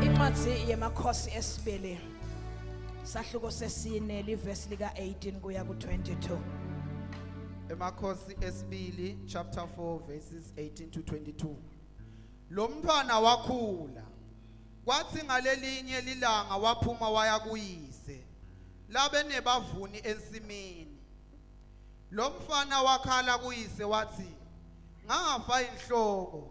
incwadi yemakhosi esibili sahluko sesine livesi lika-18 kuya ku-22 emakhosi esibili chapter 4 verses 18 to 22 lo mntwana wakhula kwathi ngalelinye lilanga waphuma waya kuyise labe nebavuni ensimini lo mfana wakhala kuyise wathi ngafa inhloko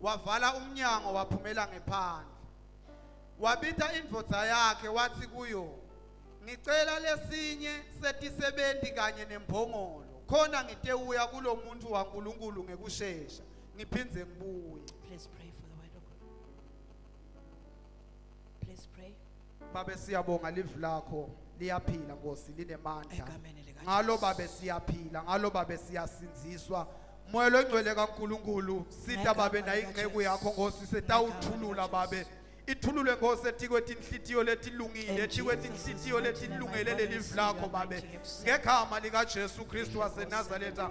wavala umnyango waphumela ngephandle wabitha indvodza yakhe wathi kuyo ngicela lesinye setisebenzi kanye nembongolo khona ngitewuya kulo muntu waNkulunkulu ngekushesha ngiphindze ngibuye please pray for the word of God please pray Babe siyabonga live lakho liyaphila Nkosi linemandla. Egameni lika Ngalo babe siyaphila, ngalo babe siyasinziswa. Moya longcwele kaNkuluNkulu, sitha babe Ngegama nayi lika inceku Jesu. yakho Nkosi setawuthulula Ngegama lika babe. Ithulule Nkosi etikweti inhlitiyo letilungile, In etikweti Jesus' inhlitiyo mighty name, I letilungele pray lelive this, lakho your babe. mighty Ngegama lika Jesu Kristu waseNazaretha.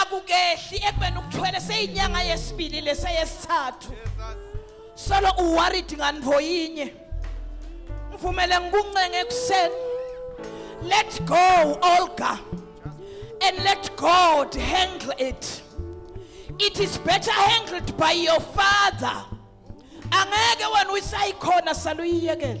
akukehli ekubeni ukuthwele seyinyanga yesibili leseyesithathu solo uworried ngani voyinye ngivumele ngikuncenge ekuseni let go olga and let god handle it it is better handled by your father angeke wena uyisayikhona saluyiyekela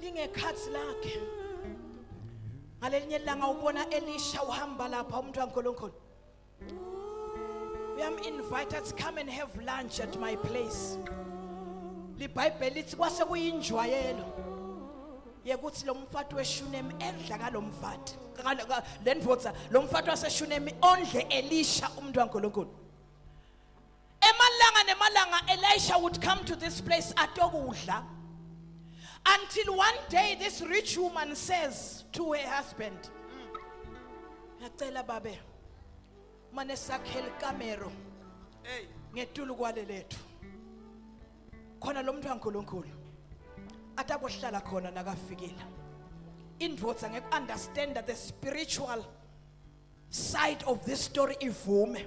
lingekhathi lakhe ngalelinye ilanga ubona elisha uhamba lapha umuntu kaNkulunkulu uyam invite to come and have lunch at my place libhayibheli lithi kwase kuyinjwayelo yekuthi lo mfati weshunemi edla kalo mfati le ndoda lo mfati waseshunemi ondle elisha umuntu kaNkulunkulu emalanga nemalanga elisha would come to this place atokudla until one day this rich woman says to her husband ngacela babe mane sakhele ikamero hey ngetulu kwale lethu khona lo muntu kaNkuluNkulu atakuhlala khona nakafikile indvodza ngeke understand the spiritual side of this story ivume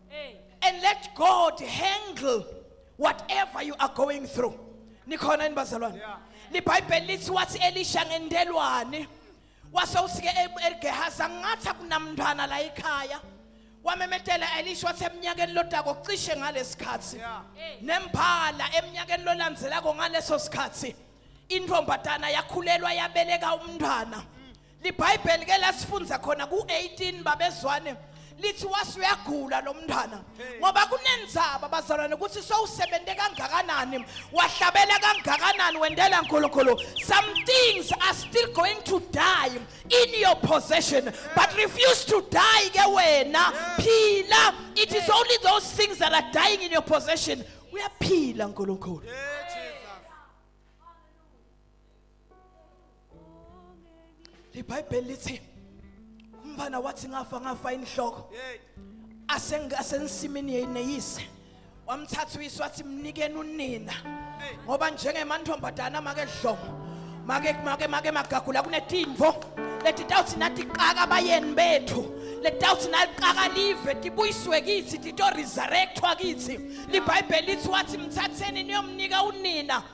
and let God handle whatever you are going through nikhona yini bazalwane libhayibheli lithi wathi elisha ngendelwane wase usike e- egehazi angathi akunamntwana la ekhaya wamemetela elisha wathi eminyakeni lodako cishe ngalesikhathi nembala eminyakeni lolandzelako ngaleso sikhathi intombazana yakhulelwa yabeleka umntwana libhayibheli ke lasifundza khona ku-18 babezwane lithi wase uyagula lo mntwana ngoba kunenzaba bazalwane ukuthi sowusebenze kangakanani wahlabela kangakanani wendela nkulunkulu some things are still going to die in your possession but refuse to die ke wena phila it is only those things that are dying in your possession uyaphila nkulunkulu ibhayibheli lithi umfana wathi ngafa ngafa inhloko asengasensimini yeyineyise wamthatha uyise wathi mnikeni unina ngoba njengemantombazana make dlomo make make make magagula kunetimvo leti tawuthi nathi qaka abayeni bethu letawuthi naliqaka live tibuyiswe kithi tito-resurrectwa kithi libhayibheli lithi wathi mthatheni niyomnika unina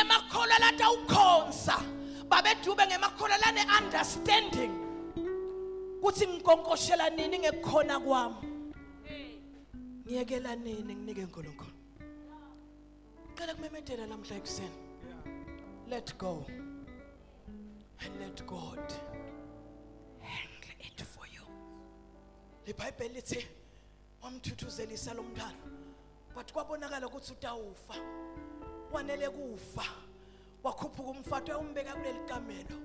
emakholwa latawukhonsa babedube ngemakholwa lane understanding kuthi ngikonkoshela nini ngekukhona kwami ngiyekela nini nginike uNkulunkulu cela kumemedela namhla ekuseni let go and let God handle it for you libhayibheli lithi wamthuthuzelisa lo mntwana but kwabonakala ukuthi utawufa wanele kufa wakhuphuka umfato umbeka kuleli kamelo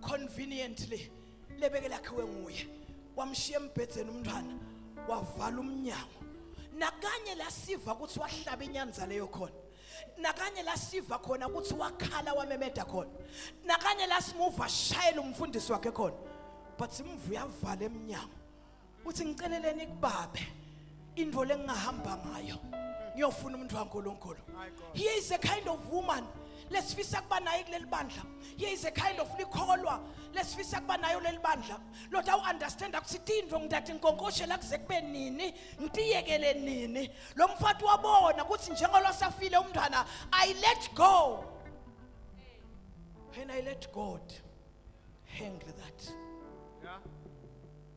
conveniently lebeke lakhiwe nguye wamshiya embhedzeni umntwana wavala umnyango nakanye lasiva ukuthi wahlaba inyanza leyo khona nakanye lasiva khona ukuthi wakhala wamemeda khona nakanye lasimuva shayela umfundisi wakhe khona but simvuya avala emnyango uthi ngiceleleni kubabe indvo lengingahamba ngayo ngiyofuna umuntu waNkulunkulu here is a kind of woman lesifisa kuba naye kuleli bandla here is a kind of likholwa lesifisa kuba nayo leli bandla lord awu understand ukuthi tindvo ngidade nkonkoshe la kuze kube nini ngitiyekele nini lo mfati wabona ukuthi njengolosafile umntwana i let go and i let god handle that yeah.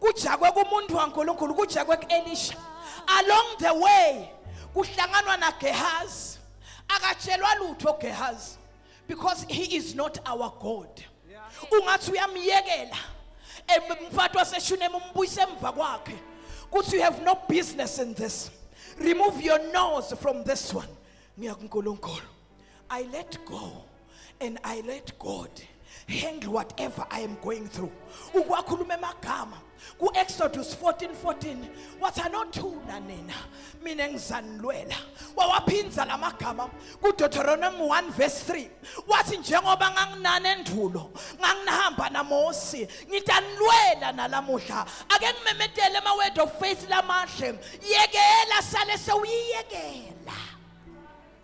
kujakwe kumuntu waNkulunkulu kujakwe kuElisha along the way kuhlanganwa naGehazi akatshelwa lutho Gehazi because he is not our God ungathi uyamyekela umfati waseshunema umbuyise emva kwakhe kuthi you have no business in this remove your nose from this one ngiya kuNkulunkulu I let go and I let God handle whatever I am going through. Ukwakhuluma emagama ku Exodus 14:14 wathi anothula nina mina ngizanilwela. Wawaphinza lamagama ku Deuteronomy 1 verse 3 wathi njengoba nganginani endulo nganginihamba naMosi ngitanilwela nalamuhla ake ngimemetele ama word of faith lamahle yekela sale sewuyiyekela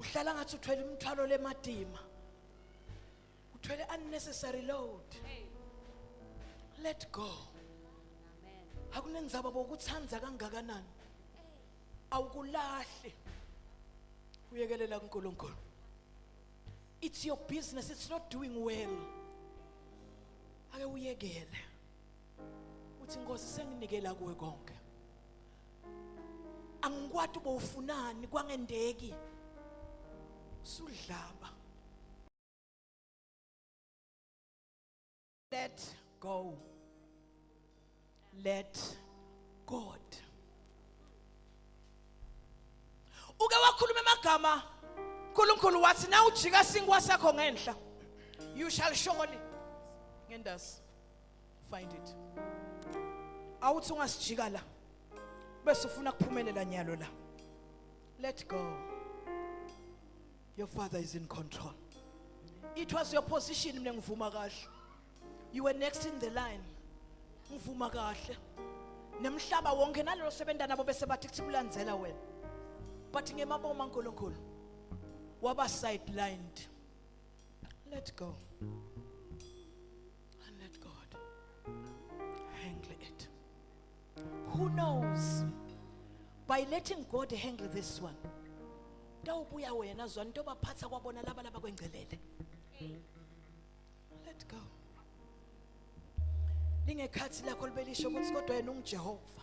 uhlala ngathi uthwele imithwalo lemadima uthwele unnecessary load let go akunenzaba bokuthanda kangakanani awukulahli uyekelela kuNkulunkulu it's your business it's not doing well ake uyekele uthi inkosi senginikela kuwe konke angikwati bowufunani kwangendeki sudlaba let go let god uke wakhuluma amagama uNkulunkulu wathi na ujika sinkwa sakho ngenhla you shall surely ngendasi find it awuthi ungasijika la bese ufuna kuphumelela nyalo la let go your father is in control it was your position mina ngivuma kahle you were next in the line ngivuma kahle nemhlaba wonke nalelo sebenta nabo bese bathi kuthi kulandzela wena but ngemaboma uNkulunkulu waba sidelined let go And let God handle it. Who knows? By letting God handle this one. Tawubuya wena zwa into baphatha kwabona laba laba kwengcelele. Let go. Lingekhathi lakho libelisho ukuthi kodwa yena unguJehova.